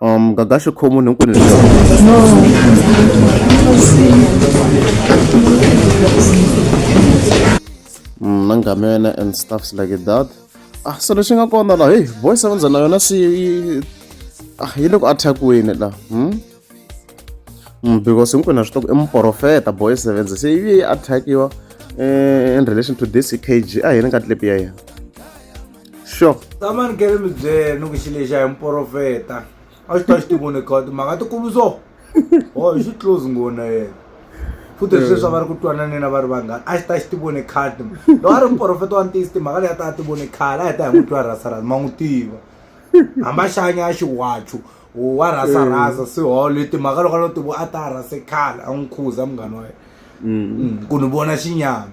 Um, gaga swi khoma munhu hinkwenu mm, na ngamena and stuffs like that ah so leswi nga kona laha heyi voice ya vandzana yona swi ah yi le ku attack-weni laha hmm? Mm, because hinkwenu a swi tiva i muprofeta boy seven se yi yi attack-iwa eh, in relation to this kg a hi ni ka tlipi ya yena sure tama ni kele mi byele ni ku xi lexi a hi muporofeta a xi ta xi tivoni kha timhaka tikulu so o oh, hi xi close ngona yena futhi leswi leswi a va ri ku twananeni a va ri vanghana a xi ta xi tivoni khale loko a ri muporofeta wa ntiyisi timhaka leyi a ta a tivoni khale a hi ta hi n'wi twa rasarasa ma n'wi tiva hamba xanya a xiwachu wa rhasarhasa mm. siholo timhaka loko a lo tivo a ta rhase khale a n'wi khuza munghana wa yena mm. mm. ku ni vona xinyama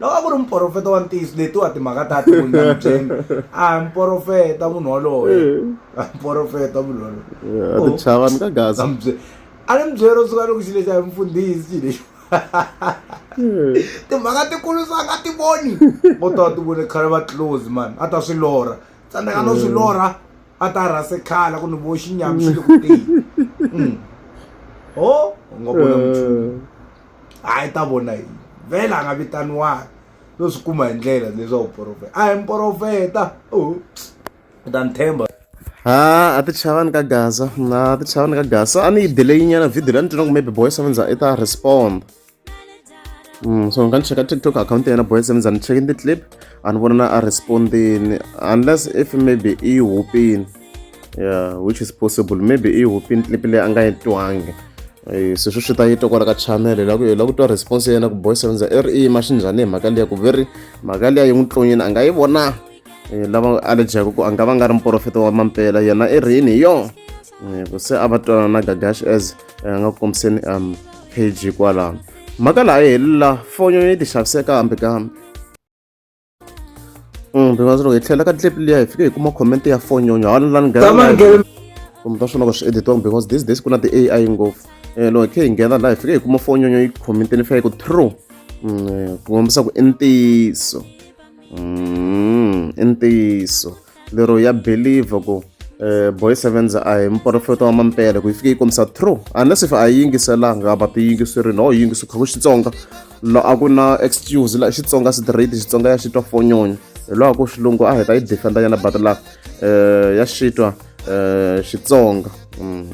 loko a ku ri muprofeta wa ntiyiso letiwa timhaka ta ti vunyambyeni a hi muprofeta munhu woloye a muprofeta munhu woloyeatichavani ka gaza a ni mubyeri ro suka loko xi lexi a hi mufundhisi xi lexi timhaka tikulu swa nga ti voni ko ta ti vone khale va close mani a ta swi lorha tsandzeka no swi lorha a ta rhase khala ku ni vo xinyami xi le ku teni o nga vona muchumu hayi ta vona yini vhele a nga vitaniwanga to swi kuma hi ndlela leswaku profeta a hi mprofeta u ta ni themba ha a ti chavani ka gaza na ti chavani ka gaza a ni yi delay nyana video la ni twina ku maybe boy seven za i ta respond mm, so nga ni cheka tiktok account ya yena boy seven za ni chekini ti-clip a ni vona na a respondini unless if maybe i yi hupini yeah which is possible maybe i hupini clip leyi a nga yi twangi eh, sweswo swi ta yi twa kwala ka channel hi laku hi laku twa response ya yena ku boy sevenza i ri i yima xi njhani hi mhaka liya ku ve ri mhaka liya yi n'wi tlonyini a nga yi vona eh, lava a lejaku ku a nga va nga ri muporofeta wa mampela yena i rini hi yona eh, ku se a va twanana na gagash as a nga ku kombiseni um page kwalano mhaka laha yi helela fonyo yi ti xaviseka hambi kambe Mm, Bimazulu hi tlhela ka clip liya hi fike hi kuma comment ya fonyonyo hala la ni nghena kumbe ta swona ka swi editiwanga because this days ku na ti-ai ngopfu um loko hi khe hi nghena laha hi fike hi kuma fonyonyo yi commenteni fika hi ku true mm, eh, ku kombisa ku i ntiyiso mm, i ntiyiso lero ya believe ku eh, boy sevens a hi muporofeta wa mampele ku yi fike yi kombisa true unless if a yi yingiselanga va ti yingiseri no yi yingisiwa ku xitsonga lo a ku na excuse la xitsonga straight xitsonga ya xitwa fonyonyo hi lowa ku xilungu a hi ta yi defenda yana but la eh, ya xitwa eh, xitsonga mm.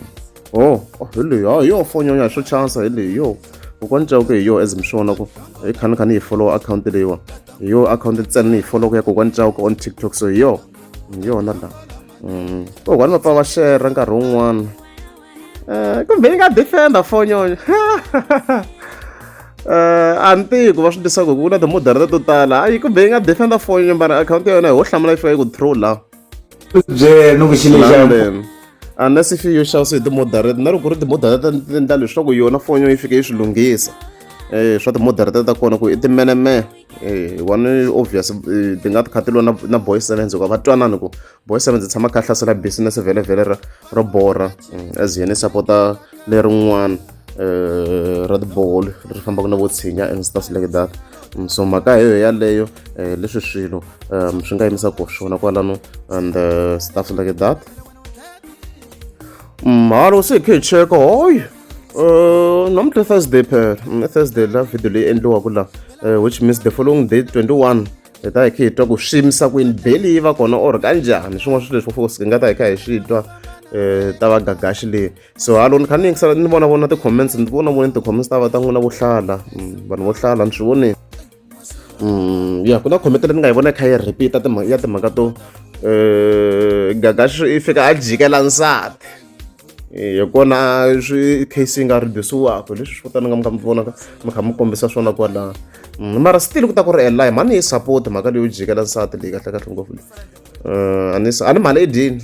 oh, oh hi leyo hi yo fonyonyo hi swo chansa hi leyo kokwana cawuke hi yo as mi swi vona ku hi khani khani hi follow akhawunti leyiwa hi yo akhawunti ntsena ni yi foloku ya kokwani cawuka on tiktok so hi yo hi yona la mm. kokwani mapa va xerha nkarhi wun'wana um kumbe yi nga defenda fonyonyo um a ni tiyi ku va swi tisaka hi ku ku na timodara to tala hayi kumbe yi nga defenda fonyonyo mara akhawunti ya yona hi ho hlamula yi fika yi ku throw laha byena ni ku xi lexana unless if yo xavisa hi ti-moderate na loko ku ri ti-moderate ti endla leswaku yona fonyo yi fike yi swi lunghisa um swa ti-moderate ta kona ku i timeneme um one obvious eh, ti nga ti kha ti lwa na boy sevens hikuva va twanani ku boy sevens tshama kha hlasela business vhele vhele ra ro borha mm, as yena i sapota lerin'wana um ra tibolo ri fambaka na vo tshinya and stuff like that so mhaka hi yo yaleyo um leswi swilo um swi nga yimisa ku swona kwalano and uh, stuff like that mhalo se hi khe hi cheka hoy um namuntlha thursday phela mm, thursday la video leyi endliwaka la eh, which means the following day 21 hi ta hi khe hi twa ku swi yimisa kwini beli yi va kona or kanjhani swin'wana swilo leswi fos hi nga ta hi kha hi swi twa um ta va gagaxi leyi so halo ni kha ni yingisela ni vona vona ti-comments ni vona voneni ti-comments ta va ta n'wina vo hlala mm, vanhu vo hlala ni swi voneni mm, ya ku na comment leyi ni nga yi vona yi kha yi repeat-a ya timhaka to um gagaxi i fika a jikela nsati hi kona swi case yi nga redusiwaka leswi swi kutani nga mi kha mi vonaka mi kha mi kombisa swona kwalaho mm, mara still ku ta ku ri eli mhani yi support mhaka leyo jikela nsati leyi kahlekahle ngopfu leyi um a ni mhani i dini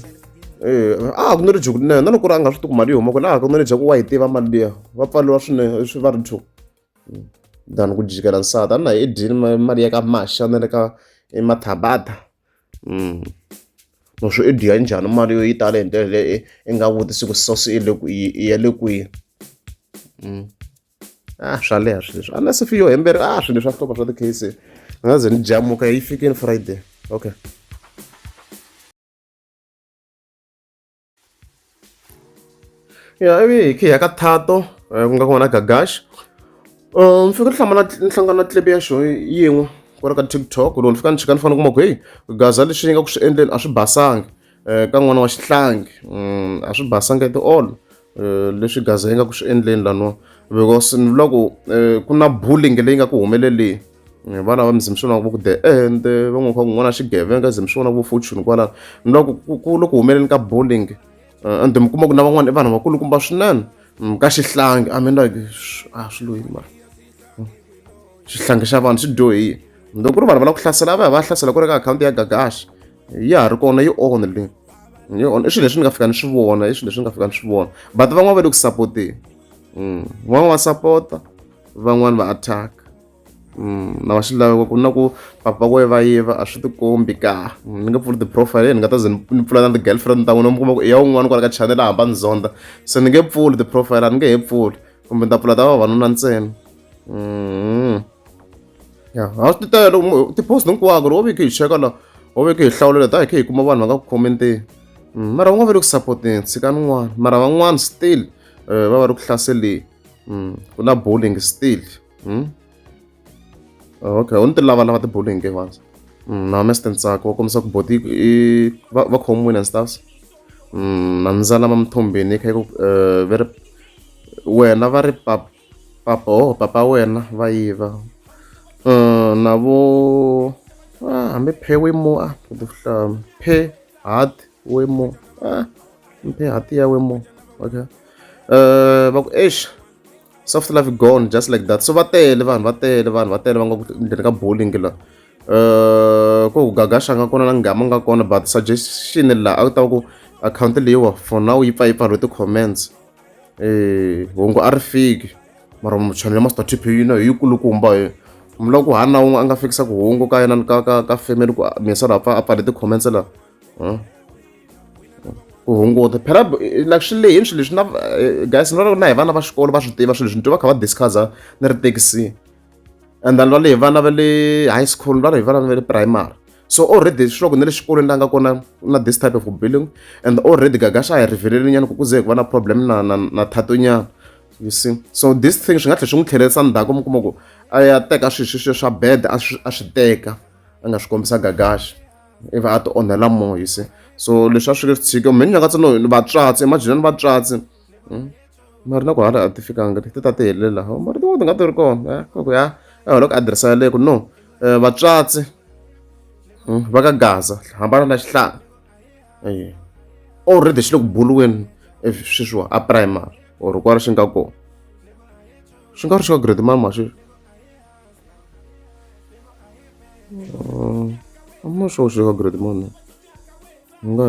Eh, a ha ku ni ri juku na loko ri a nga swi tiku mali yi huma kwini a ha ku ni ri jaku wa yi tiva mali liya va pfaliwa swinene swi va ri juku hmm. than ku jikela nsati a na hi edyini mali ya ka maxa na le ka emathabata hmm. no swi edyiya njhani mali yo yi tale hi ndlela leyi i nga vutisi ku sosi i le ku i ya le kwihi hmm. a ah, swa leha swilo leswi a na se fi yo hemberi a ah, swilo leswi a hlova swa ti-case ni nga ze ni jamuka yi fikini friday okay ya ivi hi ya ka thato eh, ku nga ku vona gagash um fika ni hlamala ni hlangana na tlilepe ya xo yin'we ku ri ka tiktok loko ni fika ni chika ni fanele kuma ku heyi gaza lexi ni nga ku swi endleni a swi basanga um ka n'wana wa xihlangi mm, a swi basanga at all Eh, leswi gaza yi nga ku swi endleni laniwa because ni vula ku eh, ku na bullying leyi nga ku humeleleni eh, vana va mizimi swona va ku the end va n'wi kha ku n'wana xigevenga zimi swona vo fortune kwalano ni vula ku ku loko humeleleni ka bullying and mi kuma ku na van'wana i vanhu vakulukumba swinene mm, ka xihlangi i mean like a ah, swi loyini mara mm. xihlangi xa vanhu swi dyohile loko ku ri vanhu va lava ku hlasela va ya va hlasela ku ri ka akhawunti ya gagashi ya ha ri kona yi only leyi yi only i swilo leswi ni nga fika ni swi vona i swilo leswi ni nga fika ni swi vona but van'wana va le ku sapoteni mm, van'wana va sapota van'wana va attack mm, na va xilaveko ku na ku papa ku va yiva a swi tikombi ka mm, ni nga pfuli ti-profile ni nga ta ze ni pfula na ti-girlfriend ta n'wina mi kuma ku i ya un'wana kwala ka channel a hamba ni zonda se ni nge pfuli ti-profile a ni nge he pfuli kumbe ni ta pfula ta vavanuna ntsena mm. ya ha swi titela loko tipost hinkwako loko ve khe hi cheka la o ve khe hi hlawulela ta hi khe hi kuma vanhu va nga ku khomenteni mm, mara va nga va le ku sapoteni tshika nin'wana mara van'wana still eh, va va ri ku hlaseleni mm, ku na bowling still mm? okay u ni ti lava lava ti-bowling ke vanhu na mest ntsako wa kombisa ku boti va khomiwile and stuffs na ndzala ma mithombeni kha ku eh, ve ri wena va ri papa oh papa wena va yiva um na vo ah, hambi phe we mo a ah, vuhlamu phe hat we mo a ah, phe hat ya we mo okay um va ku eish soft life gone just like that so va tele vanhu va tele vanhu va tele va nga ku ndzeni ka bowling la um ko ku gagasha nga kona na ngama nga kona but suggestion la a ku ta ku akhawunti leyiwa for now yi pfa yi pfariwe ti-comments eh, hungu a ri fiki mara muchani ya master tp yino hi yikulukumba hi mi lava ku hana na un'we a nga fikisa ku hungu ka yena ka ka ka family ku misa la pfa a pfale ti-comments la ku hunguta phela like swi lehini swilo leswi na eh, guys ni vona na hi vana va xikolo va swi tiva swilo leswi ni twa va kha va discussa ni ri thekisini and then va lehi vana va le high school va lehi vana va le primary so already swiloko na le xikolweni la nga kona na this type of billing and already gaga xa hi riveleli nyana ku ku ze hi ku va na problem na na na thato nyana you see so this thing swi nga tlhela swi n'wi tlhelerisa ndzhaku mi kuma ku a ya teka swilo sweswiya swa bed a swi a swi teka a nga swi kombisa gagaxa ivi a ti onhela moya you see so leswi a swi ri tshike mheni nga katsi no vatswatsi imajinani vatswatsi hmm? mara na ku hala a ti fikanga ti ta ti helela ho mara tin'wana ti nga ti ri kona eh, ku ya eholo ku adirese yaleyo ku no eh, vatswatsi hmm, va ka gaza hambana na xihlanga eh, already xi le ku buriweni sweswiwa a primary or ku ri xi nga kona swi nga ri swi ka grade mama sweswi I'm not sure sure how great money. Nga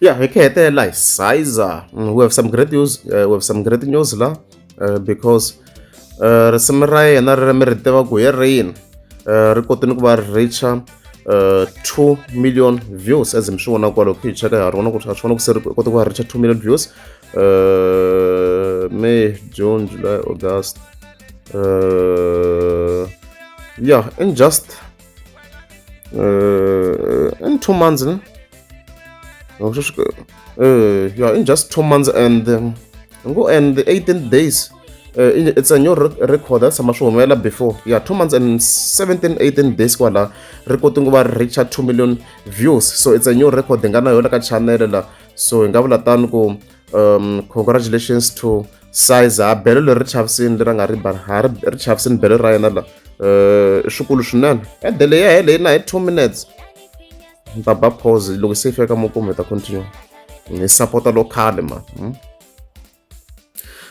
ya hi ku hetelela hi sizer mm, we have some great news uh, we have some great news la uh, because uh, risimu ra yena ri mi ri tiva ku hi rini uh, ri kote ni ku va ri richa uh, 2 million views as mi swi vona kwalo ku hi cheka ha ri vona ku ri a swi vona ku se ri kote ku va richa 2 million views uh, may june july august uh, yeah in just uh, in two months ne? Oh, uh, yeah in just two months and um, go and the 18 days uh, it's a new record that's sama swi humelela before yeah two months and 17 18 days kwala ri kote ku va reacha 2 million views so it's a new record hi nga na yona ka channel la so hi nga vula tani ku um congratulations to size ha belo leri ri chavisini leri a nga ri mbala ha ri ri chavisini belo ra yena la um i swikulu swinene ede leyi ya heleyi na hi two minutes ni ta ba pause loko se yi fika ka makumu hi ta continue ni sapota lokhale ma hmm?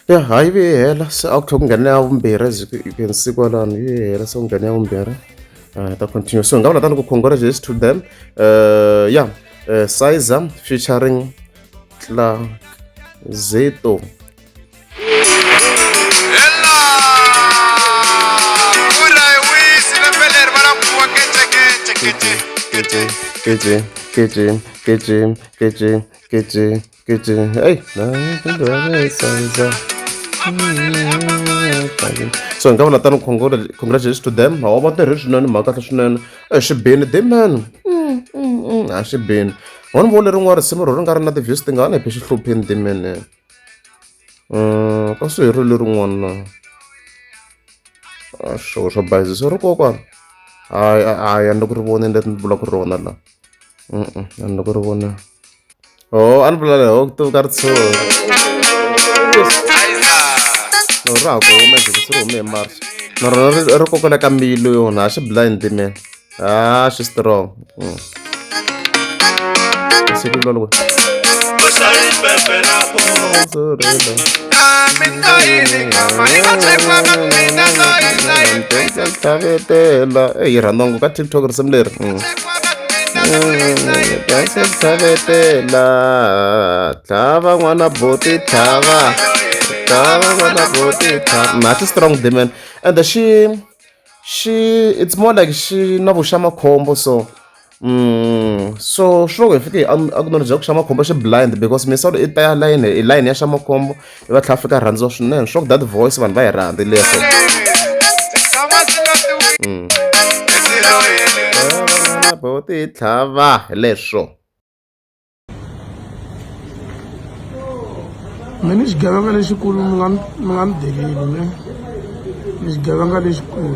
ya ha yi ve yi hela se a ku tlhe ku nghene ya vumbirhi as you can see kwalano yi ve yi hela se ku nghene ya vumbirhi um ta continue so hi nga vula tani ku congratulations to them um ya eh, sizer featuring Tlazeto. Hey, so hi nga vona tani congratulations to them hawa va tirhi swinene mhaka kahle swinene exibini de mani a xibini wa ni vona lerin'wana risimu ro ri nga ri na ti-views tingani phe xihlupheni timene um ka swi herile lerin'wana na a swo swa bayizisa ri kokwana hayi hayi a ni le ku ri voneni leti ni bula ku rona la mm a ni le ku ri vona o oh, a ni bula leho ku tivuka ri tsho no ra ha ku huma jikisi ri hume hi march na rona ri kokela ka mbilu yona a xi blind mena Ah, she's strong. Mm. eyi rhandongo ka tiktok risimu leri tlhava n'wana boti tlhava tlhava n'wana boti tlhava mathi strong demon and she xi it's more like xi na vuxa makhombo so so swi loko hi fike a ku nori bya ku xa makhombo xi blind because misolo i ta ya layini i layini ya xa makhombo i va tlhela fika rhandziwa swinene swa ku that voice vanhu va yi rhandzi leswo bo ti tlhava leswo mi ni xigevenga lexikulu mi nga mi nga ni deleli mi ni xigevenga lexikulu